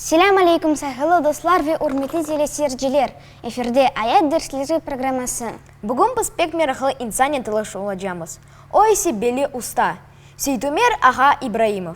Selâm aleyküm sayhılı dostlar ve ürmetli teleseyirciler! Efirde Ayat dersleri programması. Bugün biz pek meraqlı insan ile tanış olacamız. O ise belli usta, Seytumer ağa İbraimov.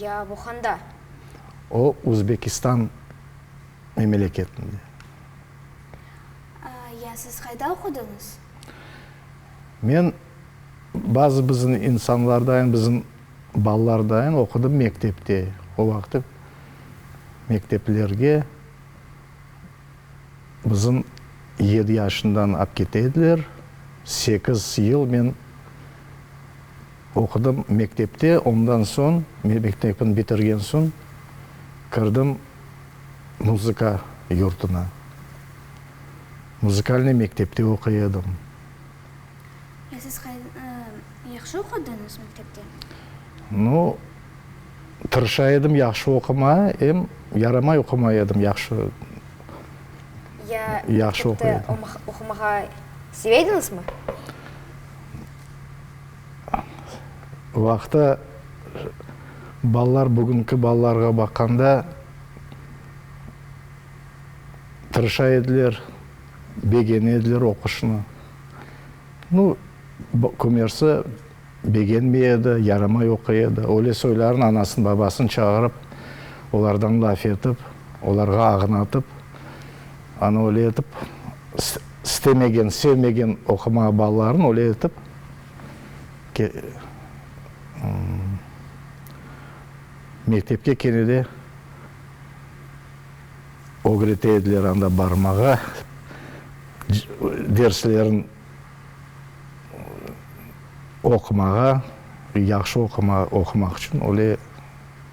Ya Vuhanda. O Uzbekistan memeleketinde. Ya siz qayda oqudıñız? Men bazı bizim insanlardayen, bizim balalardayen oqudım mektepte. O vaqıt mekteplerge bizim yedi yaşından apkete ediler. Sekiz yıl men. Oqudım mektepte, ondan soñ, mektepni bitirgen soñ, kirdim muzıka yurtuna. Muzıkalnıy mektepte oquy edim. Ya siz yahşı oqudıñız mektepte? No, tırışa edim yahşı oqumağa, em yaramay oqumay edim yahşı. Ya mektepte oqumağa seve ediñizmi? vaqta balalar bugünki balalarğa baqqanda tırışa ediler, begene ediler oquşnı. Nu, kümersi begenmey edi, yaramay oquy edi. Öyle soyların anasını, babasını çağırıp, olardan laf etip, olarğa ağnatıp, ana öyle etip, istemegen, sevmegen oqumağa balalarını öyle etip mektepke kene de ögrete ediler, anda barmağa, derslerin oqumağa, yahşı oqumaq içün öyle.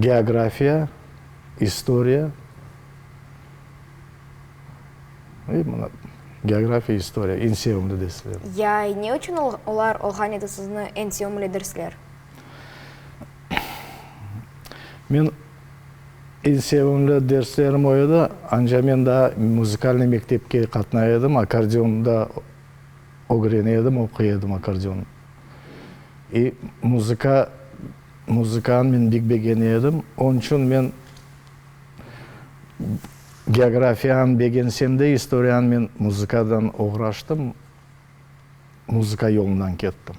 geografiya, istoriya, ve mına geografiya, istoriya, eñ sevimli derslerim. Ya, ne içün olar olğan edi sizni eñ sevimli dersler? Men eñ sevimli derslerim o edi, ance men daa muzikalnıy mektepke qatnay edim, akkordeonda ögrene edim, oquy edim akkordeon. E, muzıka. Muzıkanı men bek begene edim. Onıñ içün men geografiyanı begensem de, istoriyanı men muzıkadan oğraştım, muzıka yolundan kettim.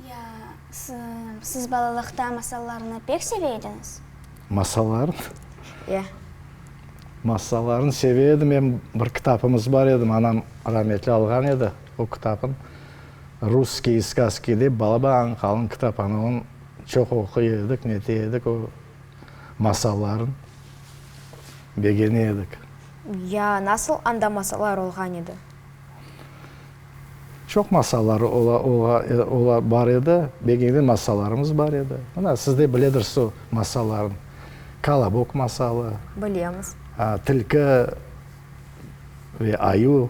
Ya, siz balalıqta masallarnı pek seve ediñiz? Masallarnı? Ya. Masallarnı seve edim. Em bir kitapımız bar edi, anam rametli alğan edi o kitapnı. Russkiy skazki dep balaba Anqalnıñ kitaphanalın çoq oquy edik, nete edik, o masallarnı begene edik. Ya, nasıl anda masallar olğan edi? Çoq masallar ola, bar edi, begene masallarımız bar edi. Mına, siz de biledirsiz o masallarnı. Kolobok masalı. Bilemiz. Tilki ve ayu.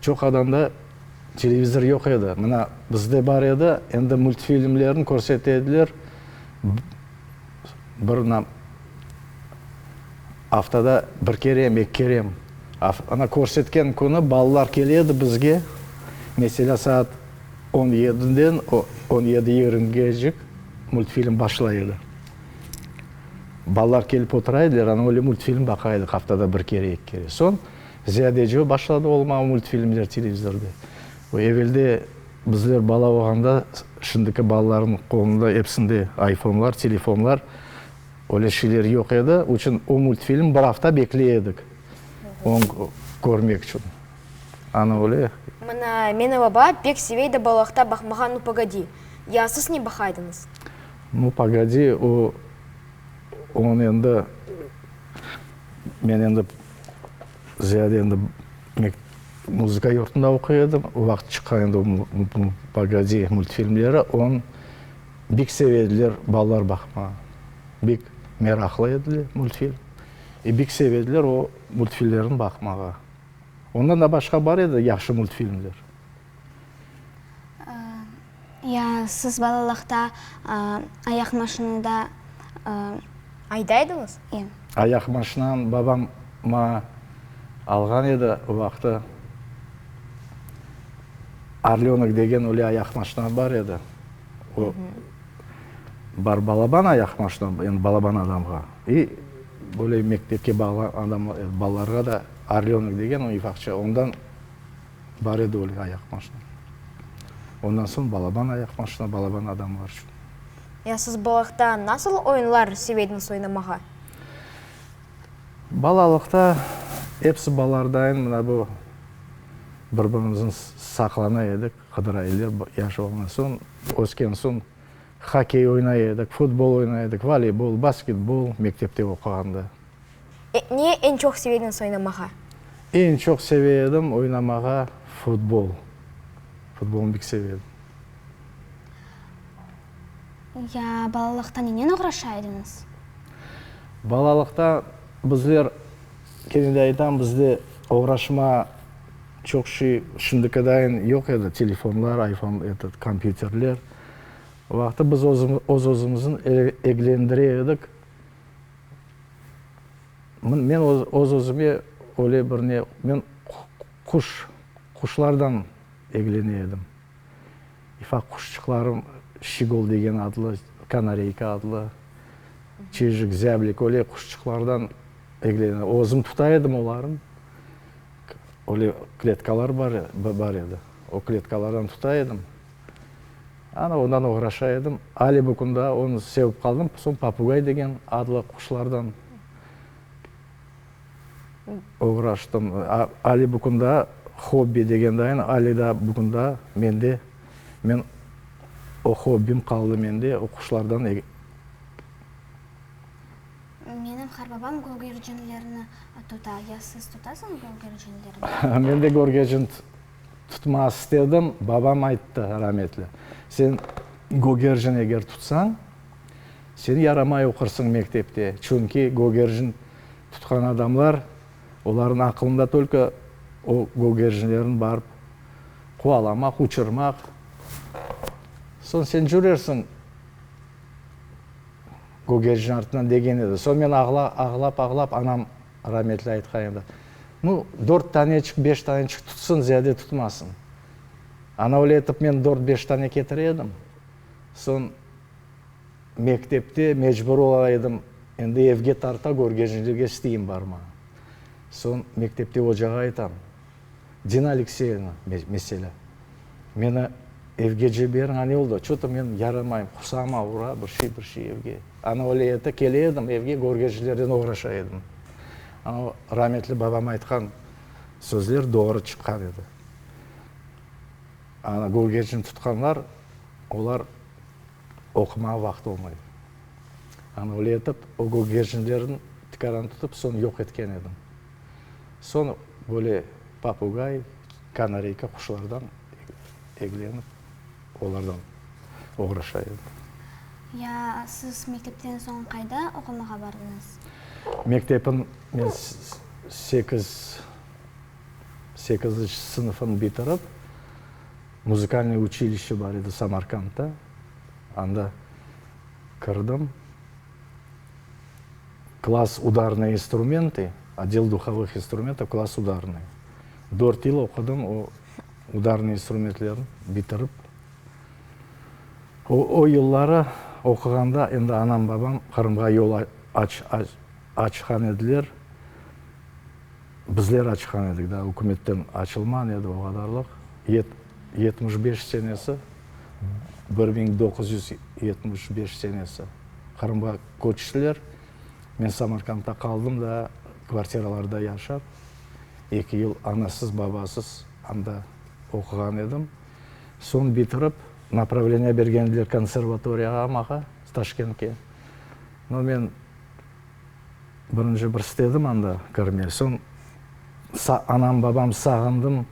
Çoq adamda televizor yoq edi, mına bizde bar edi, endi multfilmlerni körset ediler, bir nam aftada bir kerem, eki kerem, ana körsetken künü balalar kele edi bizge, meselâ saat on yediden on yedi yigrimgecik multfilm başla edi, balalar kelip otura ediler, ana öyle multfilm baqa edik aftada bir kere, eki kere, soñ. Ziyadece başladı olmağa multfilmler televizorda. Bu evelde bizler bala olğanda, şimdiki balalarnıñ qolunda episinde ayfonlar, telefonlar, öyle şeyler yoq edi. O içün o multfilm bir afta bekley edik, oñ körmek içün. Anı öyle. Mına meni baba pek seveydi balaqta baqmağa Nu, pogodi! Ya siz ne baqaydıñız? Nu, pogodi, o, oñ endi, men endi, Ziyade endi muzıka yurtunda oquy edim. Vaqıt çıqqa endi bu Pogodi multfilmleri, onı bek seve ediler balalar baqmağa. Bek meraqlı ediler multfilm. E, bek seve ediler o multfilmlerni baqmağa. Ondan da başqa bar edi yahşı multfilmler. Ya siz balalıqta ayaq maşinada aydaydıñız? Ya. Ayaq maşinanı babam maña alğan edi. O vaqıtı Orlönok degen öyle ayaq maşina bar edi. O bar balaban ayaq maşina, endi balaban adamğa. İ böyle mektepke bağlı adamlar, balalarğa da Orlönok degen, o ifaqçı, ondan. Bar edi öyle ayaq maşina. Ondan soñ balaban ayaq maşina, balaban adamlar içün. Ya siz balaqta nasıl oyunlar seveydiniz oynamağa? Balalıqta episi balardayın mına bu bir-birimizin saqlana edik, qıdıra edik yaş olğan soñ. Ösken soñ hokkey oynay edik, futbol oynay edik, voleybol, basketbol mektepte oquğanda. Ne eñ çoq sevediniz oynamağa? Eñ çoq seve edim oynamağa futbol. Futbolnı bek seve edim. Ya balalıqta nenen oğraşa ediñiz? Balalıqta bizler, kene de aytam, bizde oğraşma çoq şey şimdikadayin yoq edi, telefonlar, ayfon, eto, kompyuterler. O vaqıtı biz öz-özümüzni eglendire edik. Men öz-özüme öyle bir ne, men quş, quşlardan eglene edim. İfak quşçıqlarım, şigol degen adlı, kanareyka adlı, çijik, zâblik, öyle quşçıqlardan eglene, özüm tuta edim olarnı. Öyle kletkalar bar edi, o kletkalardan tuta edim. Ana, ondan oğraşa edim. Âli bu künde onı sevip qaldım. Soñ papugay degen adlı quşlardan oğraştım. Âli bu künde hobbi degen de aynı. Âli de bu künde mende. Men, o hobbim qaldı mende, o quşlardan. Menim qarbabam gögercinlerini tuta. Ya siz tutasıñız gögercinlerini? Mende gögercin. Tutmaq istedim, babam ayttı, rametli, sen Gögerjin eger tutsañ, sen yaramay oqursıñ mektepte, çünki Gögerjin tutqan adamlar, olarnıñ aqılında tölke o Gögerjinlerni barıp quvalamaq, uçurmaq. Soñ sen cürersiñ Gögerjin artınan, degen edi. Soñ men ağlap-ağlap anam. Rametli aytqan edi, Nu, dört taneçik, beş taneçik tutsın, ziyade tutmasın. Ana öyle etip men dört-beş tane ketire edim. Soñ mektepte mecbur ola edim, endi evge tarta, körgenjlikge isteyim barmağa. Soñ mektepte ocağa aytam. Dina Alekseyevna, meselâ, meni evge jiberiñ, ane oldı, ço to men yaramayım, qursağım avura, bir şey, bir şey evge. Ana öyle ete, kele edim evge, görgecilerden oğraşa edim. Ana rametli babam aytqan sözler doğru çıqqan edi. Ana görgecini tutqanlar, olar oqumağa vaqıt olmay. Ana öyle etip, o görgecnilerniñ tikaranı tutıp, soñ yoq etken edim. Soñ böyle papugay, kanareyka quşlardan eglenip, olardan oğraşa edim. Ya, siz mektepten soñ qayda oqumağa bardıñız? Mektepim, men sekiz, sekizinci sınıfnı bitirip, muzıkalnıy uçilişe bar edi Samarkandta, anda kirdim. Klass udarnıy instrumenti, Odel duhovıh instrumentov klass udarnıy. Dört yıl oqudım o udarnıy instrumentlerin bitirip. O o yılları oquğanda endi anam babam Qırımğa yol aç aç açqan ediler. Bizler açqan edik, daa ükümetten açılman edi o qadarlıq. Yet yetmiş beş senesi bir biñ doquz yüz yetmiş beş senesi Qırımğa köçtiler. Men Samarqandda qaldım da, kvartiralarda yaşap, eki yıl anasız, babasız anda oquğan edim. Soñ bitirip, napravleniye bergen ediler konservatoriyağa maña, Taşkentke. No men. Birinci bir istedim anda kirmey, soñ anam, babam sağındım,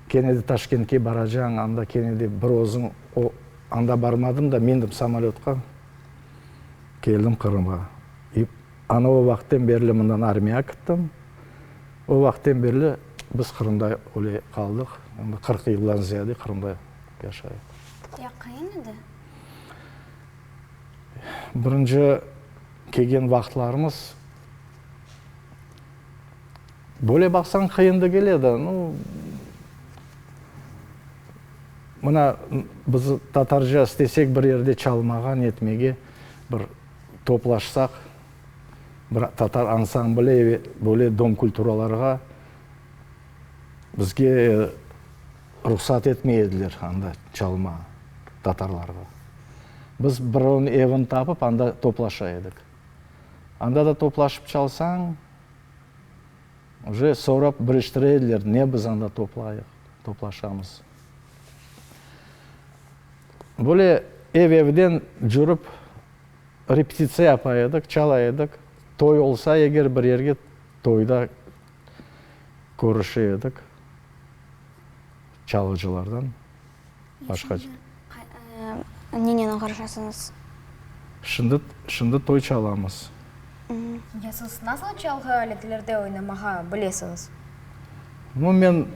kene de Taşkentke baracañ, anda kene de bir özüñ, o, anda barmadım da, mindim samolötqa, keldim Qırımğa. İ, ana o vaqıttan berli mından armiya kittim, o vaqıttan berli biz Qırımda öyle qaldıq, qırq yıldan ziyade Qırımda yaşayıq. Yaqın edi? Birinci kelgen vaqıtlarımız böyle baqsañ qıyın degil edi. Nu, mına biz tatarca istesek bir yerde çalmağa, netmege bir toplaşsaq, bir tatar ansambli, böyle dom kulturalarğa bizge, Ruhsat etmey ediler anda çalmağa tatarlarğa. Biz birovniñ evini tapıp, anda toplaşa edik. Anda da toplaşıp çalsañ, уже sorap biliştire ediler, ne biz anda toplayıq, toplaşamız. Böyle ev-evden cürip repetitsiya yapa edik, çala edik. Toy olsa eger bir yerge, toyda. körüşe edik, çalğıcılardan başqa. Nenen körüşesiniz? Şimdi, şimdi toy çalamız. Ya siz nasıl çalğı aletlerde oynamağa bilesiñiz? No, men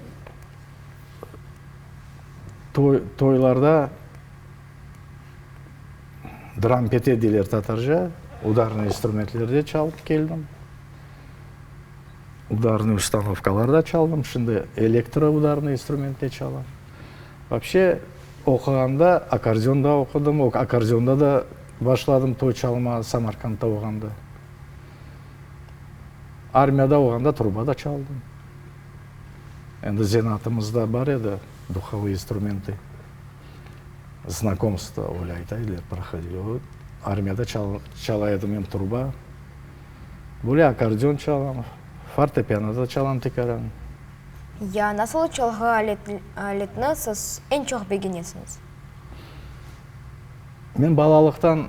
toy, toylarda drampete deyler tatarca, udarnıy instrumentlerde çalıp keldim. udarnıy ustanovkalarda çaldım, şimdi elektroudarnıy instrumentte çalam. Vapshe, oquğanda akkordeon da oqudım, o akkordeonda da başladım toy çalmağa Samarqandda olğanda. Armiyada olğanda truba da çaldım. Endi zenatımızda bar edi duhovые instrumenty, znakomstvo, öyle aytaylar, prohodil, o armiyada çala edim em truba. Böyle akkordeon çalam, fortepiano da çalam tikaran. Ya nasıl çalğı aletni siz eñ çoq begenesiñiz? Men balalıqtan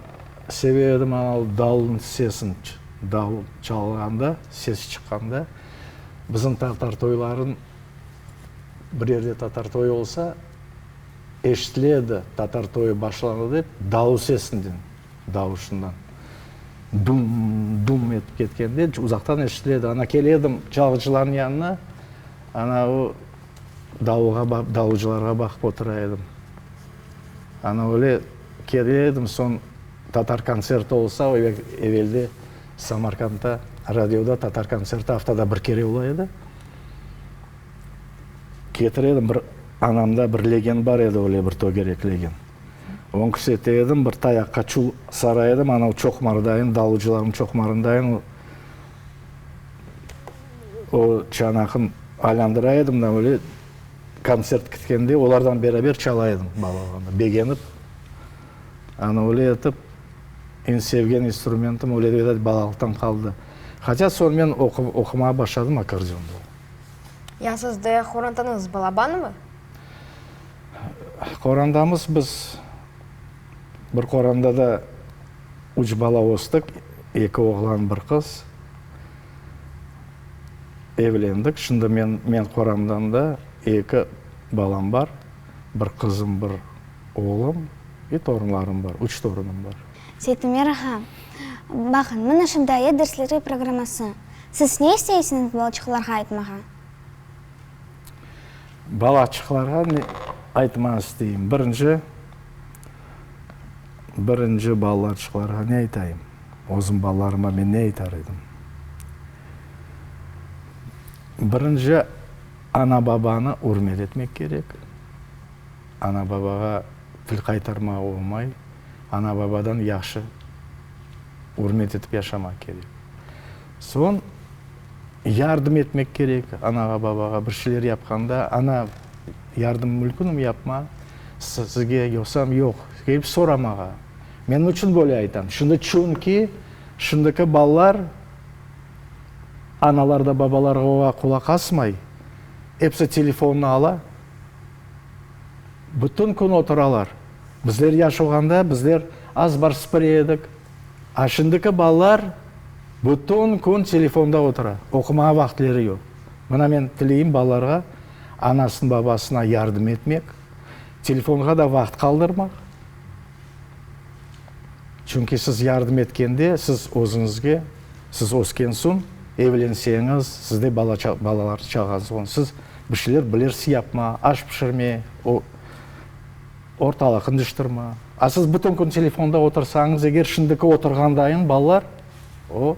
seve edim anav davulnıñ sesin, davul çalğanda, ses çıqqanda. Bizim tatar toyların, bir yerde tatar toyı olsa, eşitile edi, tatar toyı başlandı dep, davul sesinden. davuşından. Dum, dum etip ketkende, uzaqtan eşitiledi. Ana kele edim çalğıcılarnıñ yanına, ana o davuğa, davıcılarğa baqıp otura edim. Ana öyle kele edim, soñ tatar kontserti olsa, evelde Samarqandda radioda tatar kontserti aftada bir kere ola edi. Ketire edim, bir anamda bir legen bar edi, öyle bir tögerek legen. Oñ küsete edim, bir tayaqqa çul sara edim, anav çoqmardayın, dalıcılarnıñ çoqmarındayın, o çanaqnı aylandıra edim da, böyle kontsert kitkende olardan beraber çala edim, bala olğanda, begenip. Ana öyle etip, eñ sevgen instrumentim öyle degende balalıqtan qaldı. Haca soñmen oqumağa başladım akkordeonda. Ya sizde qorantanıñız balabanmı? Qorandamız biz. Bir qoranda da üç bala östük, eki oğlan, bir qız. Evlendik. Şimdi men, men qoramdan da eki balam bar, bir qızım, bir oğlum ve torunlarım bar, üç torunım bar. Seytümer ağa, baqıñ, mına şu daye dersleri programması. Siz ne isteysiñiz balçıqlarğa aytmağa? Balaçıqlarğa ne aytmaq isteyim? Birinci, birinci balaçıqlarğa ne aytayım? Özüm balalarıma men ne aytar edim? Birinci, ana-babanı ürmet etmek kerek. Ana-babağa til qaytarmağa olmay. Ana-babadan yahşı ürmet etip yaşamaq kerek. Soñ yardım etmek kerek anağa, babağa bir şeyler yapqanda, ana, yardım mülkünüm yapma, sizge yosam yoq, kelip soramağa. Men niçün böyle aytam? Şimdi çünki şimdiki balalar analar da, babalar da qulaq asmay, episi telefonını ala, bütün kün oturalar. Bizler yaş olğanda, bizler az-bar sıpıra edik. A Şimdiki balalar bütün kün telefonda otura, oqumağa vaqıtleri yoq. Mına men tileyim balalarğa anasına, babasına yardım etmek, telefonğa da vaqıt qaldırmaq. Çünki siz yardım etkende, siz özüñizge, siz ösken soñ, evlenseñiz, sizde bala balalar-çağañız olsa, siz bir şeyler bilirsiz yapmağa, aş pişirmeye. Ortalıq qızıştır mı? A siz bütün kün telefonda otursañız, eger şimdiki oturğandayıñ balalar, o,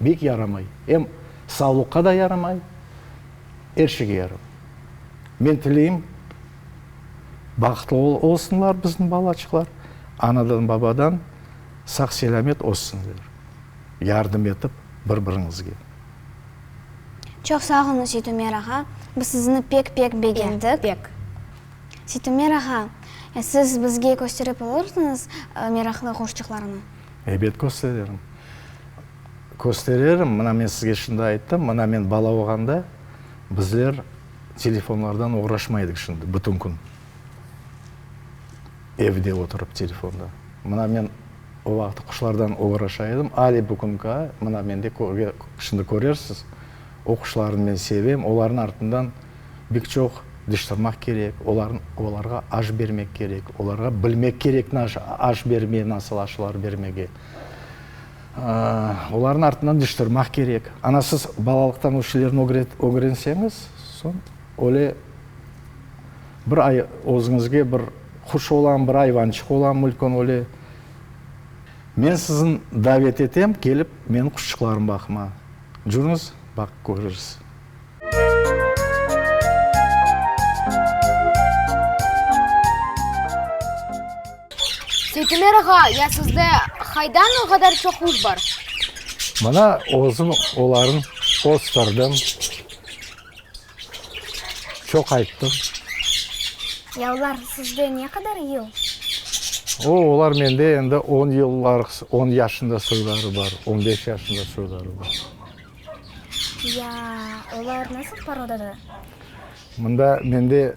bek yaramay. Em savlıqqa da yaramay, er şeyge yaramay. Men tileyim, bahıtlı olsunlar bizim balaçıqlar, anadan, babadan sağ-selâmet össünler, yardım etip bir-biriñizge. Çoq sağ olunız, Jeytumer ağa. Biz sizni pek-pek begendik. Pek. Sitimer ağa, e siz bizge kösterip olursiñiz meraqlı quşçıqlarnı? Ebet köstererim. Köstererim, mına men sizge şimdi ayttım, mına men bala olğanda bizler telefonlardan oğraşmaydık şimdi bütün kün. Evde oturıp telefonda. Mına men o vaqıt quşlardan oğraşa edim, ale bugünki ay, mına mende şimdi körersiz, Oquşlarını men sevem, olarnıñ artından bek çoq diş tırmaq kerek, olarğa aş bermek kerek, olarğa bilmek kerek aş bermege, nasıl aşlar bermege. Olarnıñ artından diş tırmaq kerek. Ana siz balalıqtan o şeylerni ögrenseñiz, soñ öyle bir özüñizge bir quş olam, bir ayvançıq olam, mülkün öyle. Men sizni davet etem, kelip, meniñ quşçıqlarım baqma. Curnuz, baq körürs. Seytemer ağa, ya sizde haydan o qadar çoq üz bar? Mana, özüm olarnı kösterdim. Çoq ayttım. Ya olar sizde ne qadar yıl? O, olar mende endi on yıllar, on yaşında soyları bar, on beş yaşında soyları bar. Ya olar nasıl porodadır? Mında, mende.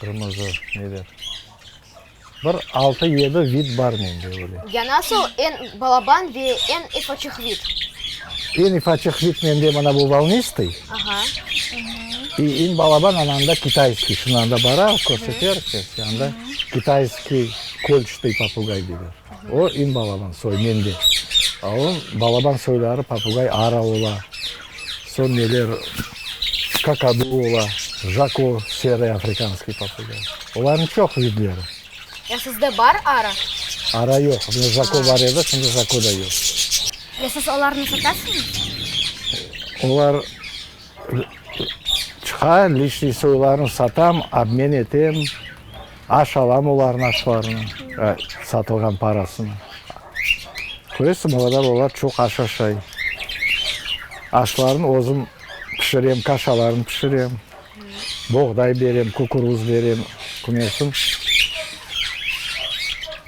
Qırmızı neler? Bir altı, yedi vid bar mende öyle. Yani asıl en balaban ve en ifaçıq vid. En ifaçıq vid mende mana bu volnistый. Aha. И en balaban ananda kitayskiy. Şunı anda bara, körseter, işte, anda kitayskiy kölçtey papugay deyler. O en balaban soy mende. A o balaban soyları papugay ara ola. Soñ neler kakadu ola, jako, serıy afrikanskıy papıga. Olarnıñ çoq vidleri. Ya sizde bar arı? Arı yoq. Mende jako bar edi, şimdi jako da yoq. Ya siz olarnı satasıñız? Olar çıqa, lichniy soylarını satam, obmen etem. Aş alam olarnı, aşlarnı, satılğan parasını. Köresiñ, o qadar olar çoq aş aşay. Aşlarnı özüm pişirem, kaşalarnı pişirem, boğday berem, kukuruz berem, kümersin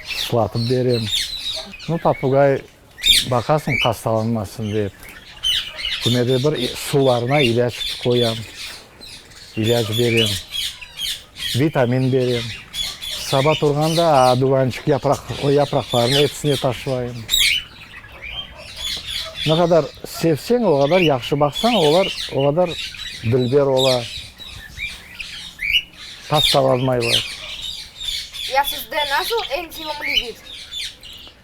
şlatıp berem. Popugay. Baqasıñ, hastalanmasın dep, kime de bir sularına ilâc qoyam, ilâc berem, vitamin berem. Saba turğanda adüvançıq yapraq, o yapraqlarnı episine taşlayım. Ne qadar sevseñ, o qadar yahşı baqsañ, olar o qadar dülber ola, hastalanmaylar. Ya sizde nasıl eñ sevimli vid?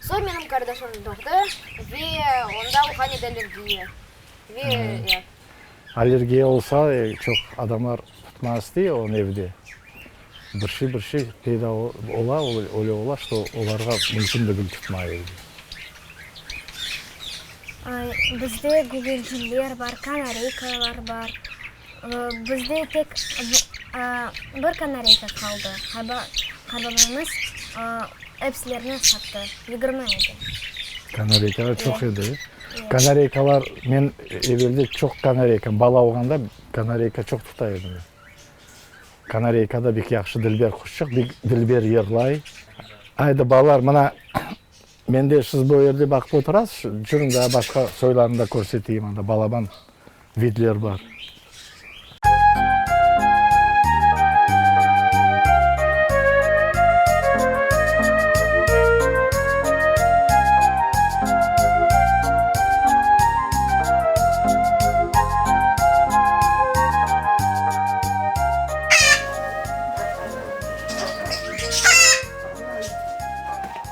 Soy menim qardaşım doğdı ve onda olğan edi allergiya. Ve, ya. Allergiya olsa, çoq adamlar tutmaz dey onı evde. Bir şey, bir şey peyda ola, öyle ola, ki, olarğa mümkün degil tutmay evde. Bizde gögerciler bar, kanareykalar bar. Bizde tek bir kanareyka qaldı, qaynbabamız epsilerini sattı, yigirmi edi. Kanareykalar çoq edi. Kanareykalar, men evelde çoq kanareyka, bala olğanda kanareyka çoq tuta edim. Kanareyka da bek yahşı, dilber quşçıq, dilber yırlay. Aydı, balalar, mına Mende siz bu yerde baqıp oturasız, jüriñ daa başqa soylarnı da körseteyim, anda balaban vidler bar.